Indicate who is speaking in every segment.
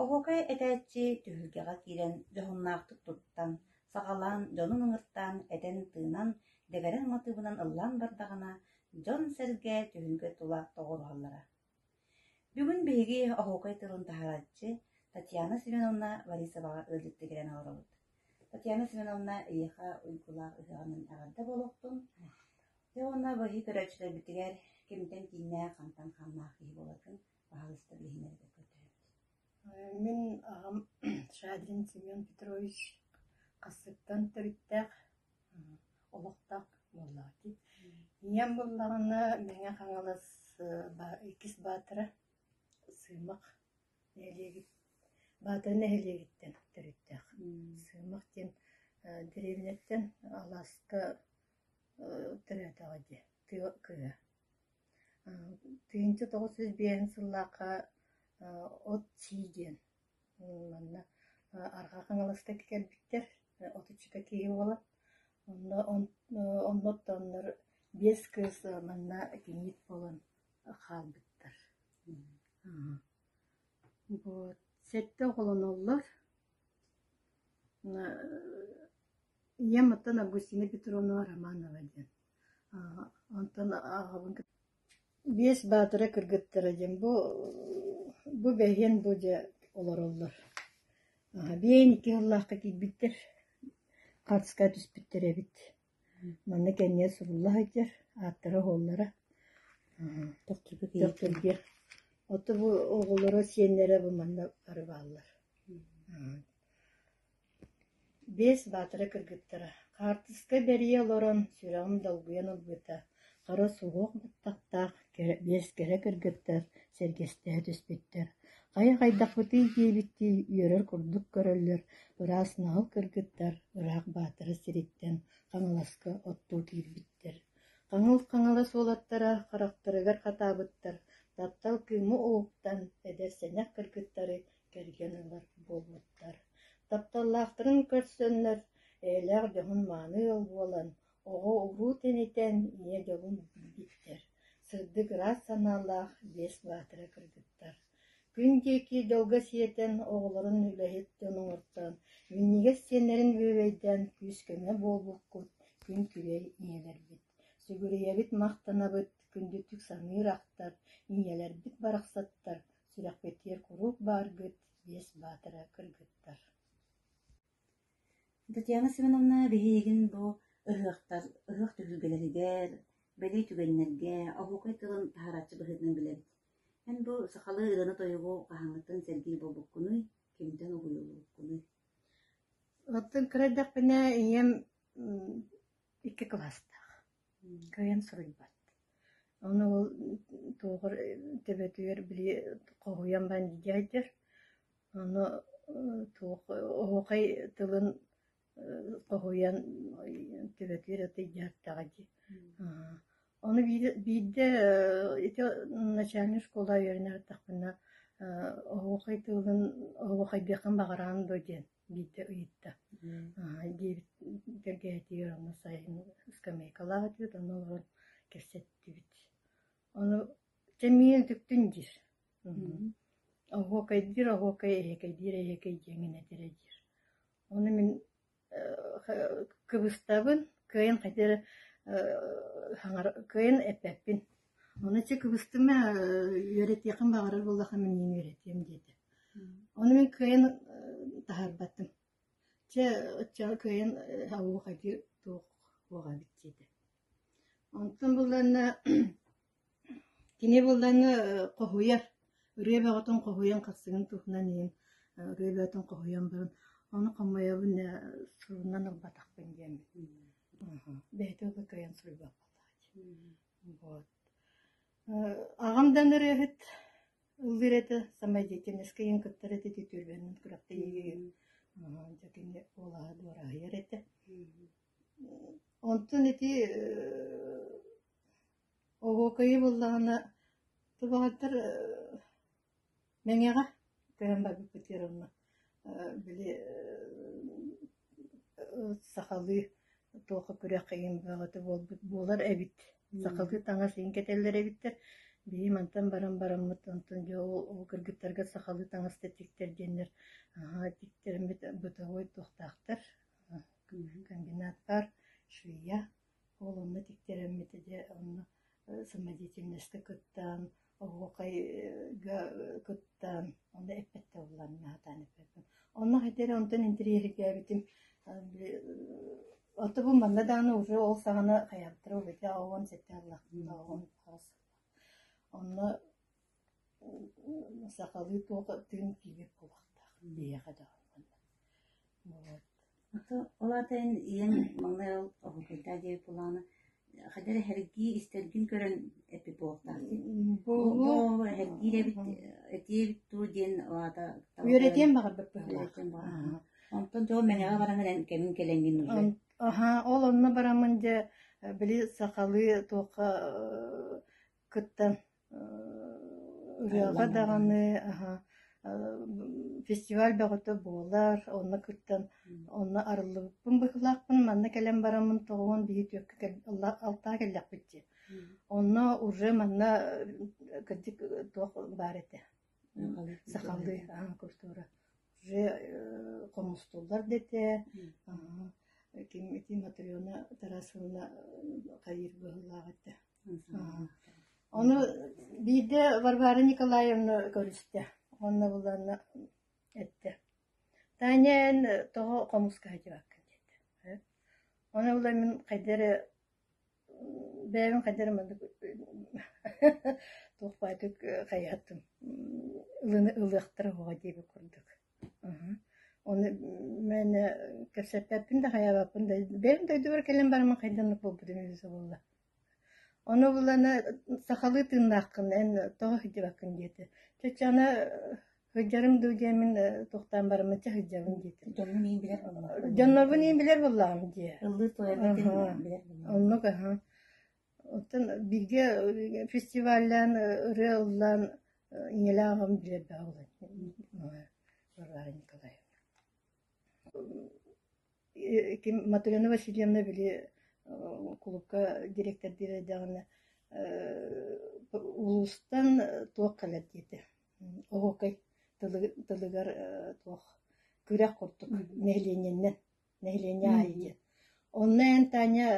Speaker 1: Оһуокай этээччи түһүлгэҕэ киирэн дьоһуннаахтык туттан, саҕалаан дьонун ыҥыртаан, этэн-тыынан, дэгэрэҥ матыыбынан ыллаан бардаҕына, дьон-сэргэ түһүлгэ тула тоҕуоруһаллара. Бүгүн биһиги оһуокай тылын таһаарааччы Татьяна Семеновна Борисоваҕа ыалдьыттыгирэн олоробут. Татьяна Семеновна эйиэхэ уйгулаах ыһыаҕынан эҕэрдэ буолуохтун. Дьэ уонна быһыы көрөөччүлэрбитигэр кимтэн кииннээх, хантан ханнаах киһи буоларгын Аһаҕастар иһинэн этэ көтөөбүт. Мин аҕам Шадрин Семен Петрович Хассыттан төрүттээх олохтоох буоллаҕытий. Ийэм буллаҕына Мэҥэ Хаҥалас иккис баатара Сыымах нэһилиэгит Баатар нэһилиэгиттэн төрүттээх. Сыымах диэн дэриэбинэттэн алааска төрөөтөҕө дии. Тыа кыа Тыһыынча тоҕус сүүс биэһин сыллаахха от-сии диэн манна Арҕаа Хаҥаластарга кэлбиттэр отучча киһи буолан онно онно оттооннор биэс кыыс манна итинник буолан хаалбыттар вот сэттэ оҕолоноллор ийэм оттон Августина Петровна Романова диэн Онтон аҕабын биэс баатыра кыргыттара диэн бу бу бэһиэн бу дьэ олороллор. Биэйин икки сыллаахха киирбиттэр, хаартыскаҕа түспүттэр эбит. Манна кэннигэр сурулла сылдьар, ааттара-аһыллара төхтүргүө. Оттон бу оҕолоро, сиэннэрэ бу манна бары бааллар. Биэс баатара кыргыттара, хаартыска бэрийэ олорон, сүрэҕим долгуйан ылбыта, хара суһуох баттахтаах биэс кэрэ кыргыттар сэргэстэһэ түспүттэр, «Хайа, хайдахпытый?» диэбиттии үөрэр курдук көрөллөр, ыраас наһыл кыргыттар ыраах баатара сириттэн Хаҥаласка оттуу киирбиттэр, хаҥыл хаҥалас уолаттара харахтарыгар хатаабыттар, таптал кыымы уһуктан, эдэр сэнэх кыргыттары кэргэн ыла буолбуттар. Тапталлаахтарын көрсөннөр, эйэлээх дьоһун мааны ыал буолан, оҕо-уруу тэнитэн, ийэ дьолун билбиттэр. Сырдык ыраас санаалаах Биэс Баатыра кыргыттар. Күн диэки дьолго сиэтэн, оҕолорун үлэһит дьон оҥортон, минньигэс сиэннэрин бүөбэйдээн күүс-көмө буолбуккут күн күрэй ийэлэрбит. Сүгүрүйэбит махтанабыт, күндүтүк саныыр ахтар, ийэлэрбит барахсаттар Сүрэхпитигэр куруук бааргыт Биэс Баатары кыргыттар Татьяна Семеновна биһиигин бу ыһыахтар ыһыах түһүлгэлэригэр, бэлиэ түгэннэргэ, оһуокай тылын таһаарааччы быһыытынан билэбит. Эн бу сахалыы ырыаны-тойугу хаһааҥҥытын сэргии буолбуккунуй, кимтэн угуйуллубуккунуй? Оттон кыра эрдэхпинэ ийэм икки кылаастаах, кыайан суруйбат. Ону ол туоҕар төбөтүгэр били хоһуйан баран дьайдар. Ону туох оһуохай тылын хоһуйан төбөтүгэр атыйдьаартаҕа дии. Ону биирдэ ити начальник школа үөрэнэ бардахпына оһуохай тылын оһуохайдыаххын баҕараҕын дуо диэн Биирдэ ыйытта, «Аһаай» диэбит кэргэһэтигэр ону сайын скамейкалаах этибит, онно олорон кэпсэттибит. Ону «Чэ, миигин үтүктүн» диир. «Оһуокайдыыр, оһуокай, эһиэкэйдиир, эһиэкэй» диэн гин этирэ диир. Ону мин кыбыстабын, кыайын хайдыары кыайын эппэппин Ону чэ кыбыстым ээ үөрэтиэхим баҕарар буоллахха мин иһин үөрэтиэм диэтэ. Ону мин кыайан таһаарбатым. Чэ оччоҕо кыайан оһуохайдыы туох туох эбит диэтэ. Онтон булланна кини булланна хоһуйар ырыа бөҕөтүн хоһуйан хахсыгын туһунан иһин ырыа бөҕөтүн хоһуйан баран ону хомойобун ээ сурунан ылбатахпын диэммин. Бэйэтэ кыайан суруйбакка хаалааччы. Вот. Аҕам да ырыаһыт, ыллыыр этэ, самай деятельноскайын кытта эрэ титиитүүллүбүнэн күрэхтэһиигэ дьэ кини уолаһа дуораһыйар этэ. Онтон ити оһуокайы буллаҕына тубаҕайдар Мэҥэҕэ көһөн барбыппыт Геровна били сахалыы туохха күрэххэ бөҕөтө буолбут буолар эбит сахалыы таҥас иһин кэтэллэр эбиттэр биһиги мантан баран бараммыт онтон дьэ ол кыргыттарга сахалыы таҥас да тиктэр диэннэр наһаа тиктэрмит бытовой туохтаахтар комбинат баар швея Уолуммут иктирэммитэ дьэ онно самодеятельнайга кыттаан, оһуохайга кыттаан, онно эппэттэ буоллар мин сатаан эппэппин. Онно хайдах эрэ онтон интэриэһиргээбитим оттубут манна даҕаны уже ол саҕана хайаахтара убайдара оҕом сэттэ аҕалаахтара оҕом онно Сахалыы туох аттыгын киинэ куобахтаах биһиэхэ да онно. Ол аата эн ийэҥ маҥнай ол оһуокайдаах диэри кулааны хайдах эрэ эһэргии истэргин көрөн эппит буолуохтаахтын. Бу эһэргиир эбит этиэ эбит дуу диэн аата Үөрэтиэн баҕарбыт быһыылаах. Онтон дьон мэнэҕэ баран эн кэмин кэлэҥҥин уже. Аһаа, ол онно бараммын дьэ били сахалыы туохха кыттан Ырыаҕа даҕаны фестиваль бөҕөтө буолар, онно кыттан онно арыллыбыппын быһыылаахпын, манна кэлэн бараммын тоҕуон биһи түөккэ алтаа кэллэхпит дии. Онно уже манна кырдьык туох баар этэ. Сахалыы культура уже хомустуллар дэтэ. Ким ити Матрена Тарасовна хайыыр быһыылаах этэ. Ону биирдэ Варвара Николаевна көрүстэ уонна буланна эттэ Таня эн тоҕо хомуска сылдьыбаккын диэтэ Ону булан мин хайда эрэ бэйэбин хайда эрэ маннык туох баайдык хайыһаттым ылыахтара буолуо диэбит курдук Ол мэн кэпсэппэппин да хайаабаппын да бэйэм дойдубар кэлэн бараммын хайдах оннук буолбутум үһү субулла Ону булана сахалыы тыыннааххын эн тоҕо сылдьыбаккын диэтэ чоччо аны сылдьарым дуу диэн мин туохтаан бараммычча сылдьабын диэтим дьоннорбун иин билэр буоллаҕым дьоннорбун иин билэр буоллаҕым дии оннук аһы Оттон бииргэ фестиваллаан, ырыа ыллаан ийэлээх аҕам билэрдээх Варвара Николаевна. Ким Матрена Васильевна били кулуупка дириэктэрдиир эрдэҕинэ улуустан туох кэлэр диэтэ. Оһуокай тылыгар туох күрэх курдук нэһилиэнньэннэн нэһилиэнньэ аайы диэн. Онно эн Таня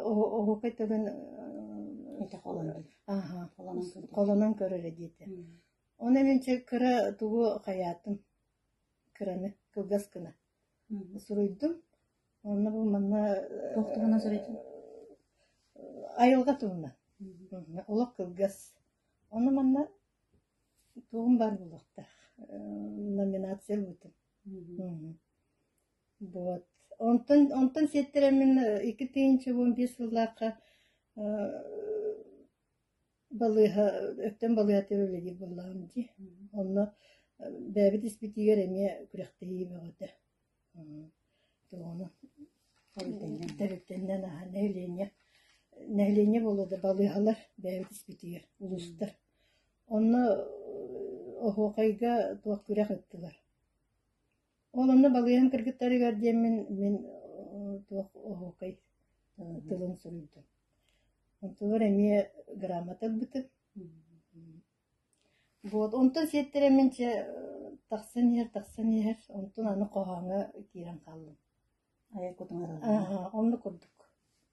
Speaker 1: оһуокай тылын ити холонон холонон көрөрө диэтэ. Оны мен кыра тугу хаятым кыраны кылгас кына суруйдум онна бу манна тохтугана суруйдum айылга тугуна олох кылгас оны манна тугум бар булуктах номинация бутум Вот. Онтон, онтон сиэттэрэммин икки тыйынчыбын биир сыллаахха балыыһа, өттөн балыыһаттан үлэлиир буоллаҕым дии. Онно бэйэбит испитигэр эмиэ күрэхтэһии бөҕөтө. Тэрилтэннэн аһа нэһилиэнньэ нэһилиэнньэ буолуо да балыыһалар бэйэбит испитигэр улуустар Онно оһуокайга туох күрэх ыыттылар. Ол онно балыыһан кыргыттарыгар диэммин мин туох оһуокай тылын суруйдум. Онтубар эмиэ грамота ылбытым. Вот онтон сиэттэрэмин чэ тахсан иһэр тахсан иһэр онтун аны хоһооҥҥо киирэн хааллым. Айа кутуҥар ыллым. Онно курдук.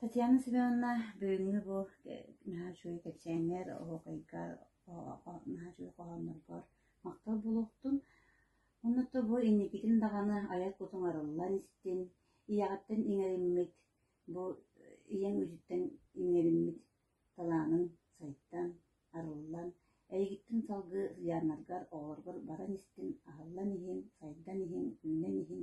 Speaker 1: Татьяна Семеновна бүгүҥҥү бу наһаа үчүгэй кэпсээҥҥэр, оһуокайга наһаа үчүгэй хоһоонноргор махтал буолуохтун. Уонна оттон бу инникитин даҕаны айар куту оҥороллон истин, ийэҕиттэн иҥэриммит, бу ийэҥ үтүттэн иҥэриммит талаанын сайдан, арыллан, эйигиттэн салгыы сыдьааннаргар, оҕолоргор баран истин, аһыллан иһин, сайдан иһин, үүнэн иһин